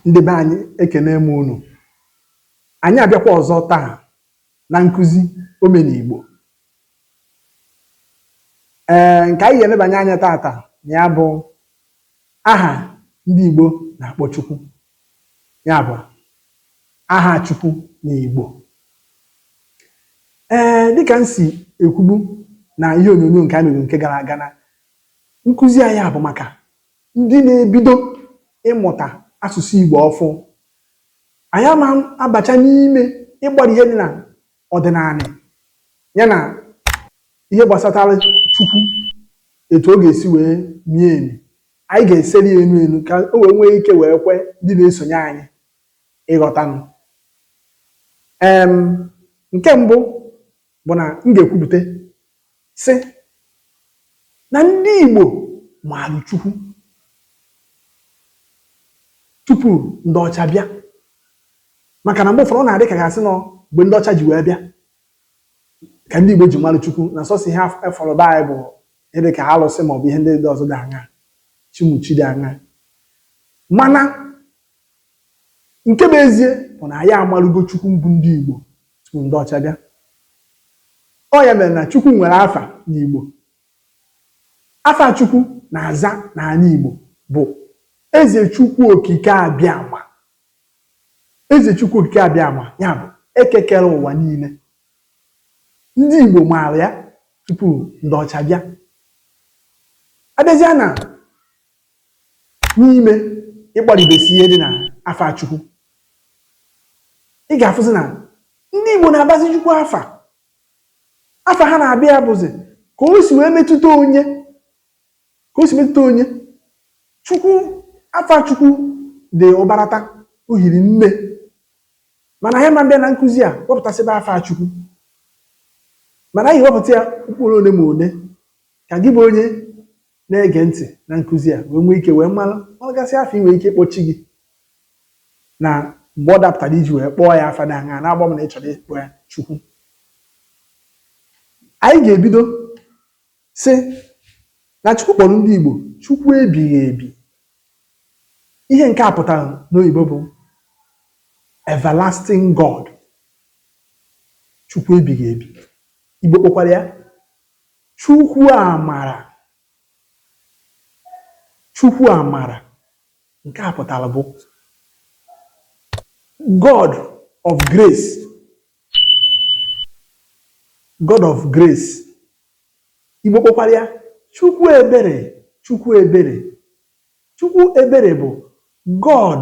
Ndị be anyị ekenee m unu. Anyị abịakwa ọzọ taa na nkụzi omenigbo. Ee, nke anyị ga-elebanye anya tata na ya bụ aha ndị Igbo na-akpọ Chukwu. Ya bụ aha Chukwu n'Igbo. Ee, dịka m si ekwubu na ihe onyonyo nke anyị mere nke gara aga na nkụzi anyị a bụ maka ndị na-ebido ịmụta asụsụ Igbo ọfụụ, anyị ama abacha n'ime ịgbara ihe dị na ọdịnanị ya na ihe gbasatara Chukwu etu ọ ga-esi wee mie emi. Anyị ga-eseri ya enu enu ka o wee nwee ike wee kwe ndị na-esonye anyị ịghọtanụ. Em, nke mbụ, bụ na m ga-ekwupụta sị na ndị Igbo maara Chukwu tupu ndị ọcha bịa maka na mgbe ụfọdụ ọ na-adị ka a ga-asị na ọ mgbe ndị ọcha ji wee bịa ka ndị Igbo ji mara Chukwu na sọsọ ihe a fụrụ be anyị bụ ihe dị ka alụsị maọbụ ihe ndị ọzọ dị aṅaa chi ụmụ chi dị aṅaa mana nke bụ ezie bụ na anyị amarụgo Chukwu mbụ ndị Igbo tupu ndị ọcha bịa ọ ya mere na Chukwu nwere afa n'Igbo afa Chukwu na-aza n'ana Igbo bụ Eze Chukwu Okike Abịama Eze Chukwu Okike Abịama ya bụ Eke kere ụwa niine ndị Igbo maara ya tupu ndị ọcha bịa abịazịa na n'ime ịgbaribesi ihe dị na afa Chukwu ị ga-afụzi na ndị Igbo na-abazi Chukwu afa afa ha na-aba ya bụzi ka o si wee metụta onye ka o si metụta onye Chukwu afa Chukwu dị ụbarata o hiri nne mana anyị ama abịa na nkụzi a wepụtasịba afa Chukwu mana anyị wepụta ya mkpụrụ ole ma ole ka gị bụ onye na-ege ntị na nkụzi a wee nwee ike wee maragasị afa i nwere ike ịkpọ chi gị na mgbe ọ dapụtara iji wee kpọọ ya afa dị aṅaa na-agba m na ị chọrọ ịkpọ ya chukwu anyị ga-ebido sị na chukwu kpọrọ ndị igbo chukwu ebighị ebi ihe nke a pụtara n'oyibo bụ everlasting god chukwu ebighị ebi igbo kpọkwara ya Chukwu amara Chukwu amara nke a pụtara bụ God of grace God of grace Igbo kpọkwara ya Chukwu ebere Chukwu ebere Chukwu ebere bụ God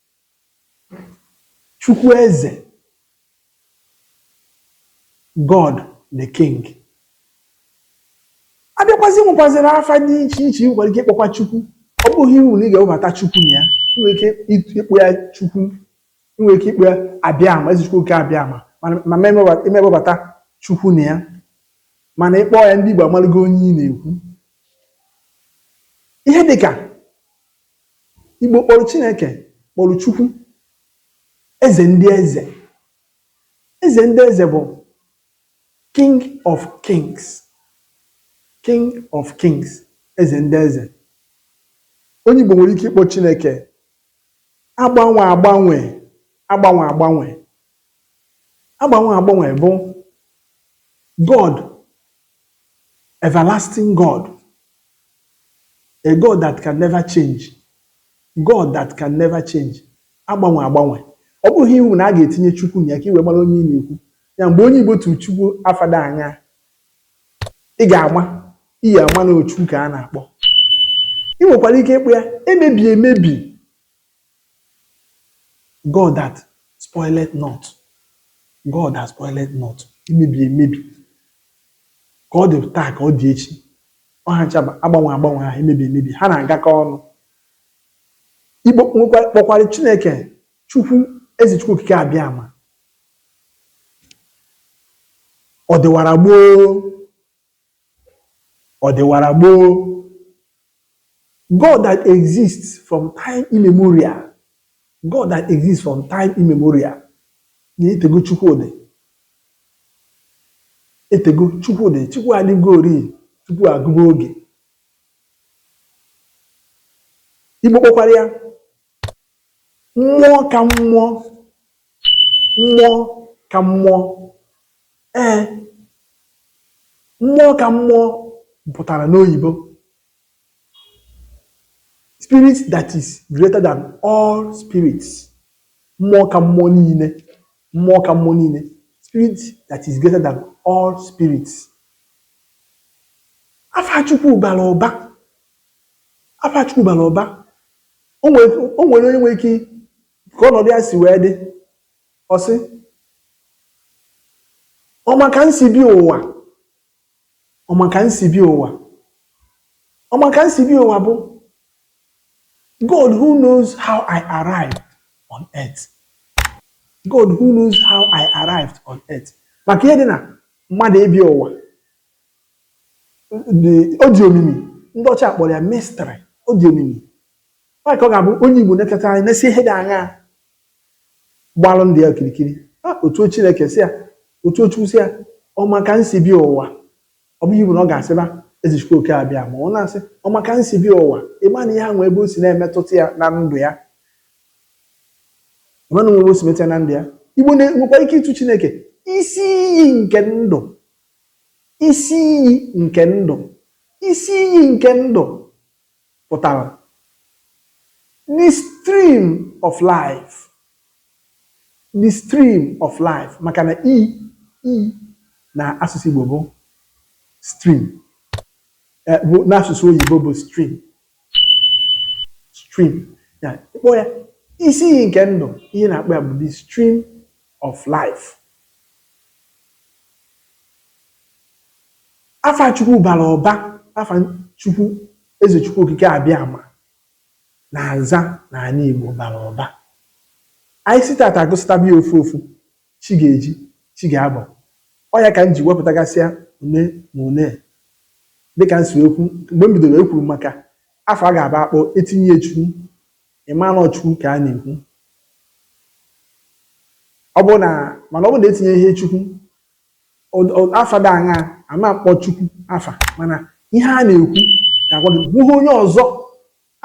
Chukwu Eze, God the King. A bịakwazị nwekwazịrị afa dị iche iche ị nwere ike ịkpọkwa Chukwu. Ọ bụghị iwu na ị ga-ewebata Chukwu na ya. Ị nwere ike ịt- ịkpọ ya Chukwu. Ị nwere ike ịkpọ ya Abịama, Eze Chukwu Okike Abịama. Mana ma ma emeba- ewebata Chukwu na ya. Mana ị kpọọ ya ndị Igbo amalụgo onye ị na-ekwu. Ihe dị ka Igbo kpọrọ Chineke kpọrọ Chukwu eze ndị eze. Eze ndị eze bụ King of Kings. King of Kings, eze ndị eze. Onye Igbo nwere ike ịkpọ Chineke agbanwe agbanwe agbanwe agbanwe. Agbanwe agbanwe bụ God Everlasting God, a God that can never change, God that can never change, agbanwe agbanwe. Ọ bụghị iwu na a ga-etinye Chukwu na ya ka i wee mara onye ị na-ekwu. Ya mgbe onye Igbo tụrụ Chukwu afa da anya, ị ga-ama iyi ama na Chukwu ka a na-akpọ. Ị nwekwara ike ịkpọ ya emebi emebi God that spoileth not, God that spoileth not, emebi emebi ka ọ dị taa ka ọ dị echi ọ ha ncha bụ agbanwe agbanwe ahụ emebi emebi ha na-agakọ ọnụ igbo kpọkwara chineke chukwu eze chukwu okike abịama ọ dịwara gboo Ọ dịwara gboo. God that exists from time immemorial. God that exists from time immemorial. Na etego Chukwu dị. Etego Chukwu dị. Chukwu adịgori tupu a gụba oge. Igbo kpọkwara ya Mmụọ ka mmụọ, mmụọ ka mmụọ. Ee, mmụọ ka mmụọ pụtara n'oyibo spirit that is greater than all spirits. Mmụọ ka mmụọ niile, mmụọ ka mmụọ niile, spirit that is greater than all spirits. Afa Chukwu bara ụba Afa Chukwu bara ụba. O nwere onye nwere ike ka ọnọdụ ya si wee dị ọ sị ọ ma ka m si bịa ụwa ọ ma ka m si bịa ụwa ọ ma ka m si bịa ụwa bụ God who knows how I arrived on earth God who knows how I arrived on earth maka ihe dị na mmadụ ịbịa ụwa ọ dị omimi ndị ọcha kpọrọ ya mystery ọ dị omimi maka ọ ga-abụ onye Igbo na-eteta anyị na-esi ihe dị aṅaa gbalụ ndụ ya okirikiri ọ tụọ Chineke sị ya ọ tụọ Chukwu sị ya ọ ma ka m si bịa ụwa ọ bụghị Igbo na ọ ga-asịba eze Chukwu oke Abịama ọ na-asị ọ ma ka m si bịa ụwa ị ma na ihe ahụ ebe o si na-emetụta ya na ndụ ya ị ma na ebe o si metụta ya na ndụ ya Igbo nwekwa ike ịtụ Chineke isi iyi nke ndụ Isi iyi nke ndụ. Isi iyi nke ndụ pụtara the stream of life, the stream of life maka na iyi n'asụsụ Igbo bụ stream, eh, n'asụsụ oyibo bụ stream. stream ya ị kpọọ ya isi iyi nke ndụ ihe ị na-akpọ ya bụ the stream of life afa chukwu bara ụba afa chukwu eze chukwu okike abịama na-aza n'ala igbo bara ụba anyị si tata agụsịtaba ya ofu ofu Chi ga-eji, chi ga-abọ. Ọ ya ka m ji wepụtagasịa one ma one. Dị ka m si wee kwu, mgbe m bidoro, ekwuru m maka afa ọ ga-abụ a kpọọ, e tinye Chukwu, ị maa na ọ Chukwu ka a na-ekwu. Ọ bụrụ na, mana ọ bụrụ na e tinyeghị Chukwu, afa dị aṅaa, a ma kpọ Chukwu afa, mana ihe a na-ekwu ga-agwa gị na o nweghị onye ọzọ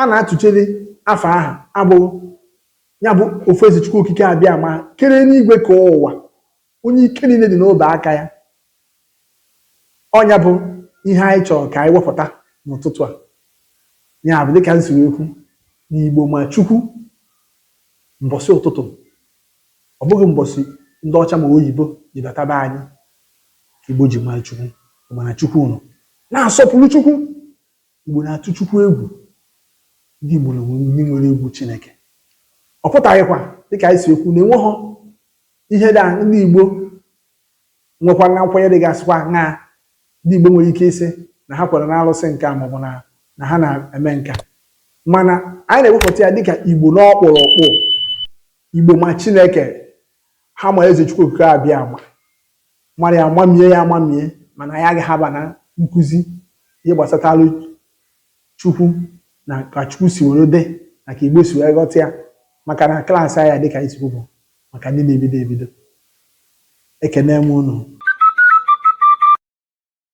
A na-atụchere afa ahụ abụghị ya bụ ofu eze Chukwu Okike Abịama kere enuigwe ka ụwa, onye ike niile dị n'obe aka ya. Ọ nya bụ ihe anyị chọrọ ka anyị wepụta n'ụtụtụ a. Ya bụ dịka m si wee kwu na Igbo ma Chukwu mbọsị ụtụtụ, ọ bụghị mbọsị ndị ọcha ma oyibo ji bata be anyị ka Igbo ji mara Chukwu. Ị ma na Chukwu nọ, na-asọpụrụ Chukwu. Igbo na-atụ Chukwu egwu. Ndị Igbo nwere egwu Chineke. Ọ pụtaghịkwa dịka anyị si ekwu na enweghọ ihe ndị a ndị Igbo nwekwara na nkwenye dịgasịkwa aṅaa ndị Igbo nwere ike ịsị na ha kwere na alụsị nke a maọbụ na na ha na-eme nke a mana anyị na-ewepụta ya dịka Igbo n'ọkpụrụkpụ Igbo ma Chineke ha ma eze Chukwu Okike Abịama mara ya mamie ya amamie mana anyị agaghị aba na nkụzi ihe gbasatalụ Chukwu na ka Chukwu si were dị na ka Igbo si wee ghọta ya maka na klaasị anyị dịka anyị si bụ maka ndị na-ebido ebido ekene m unu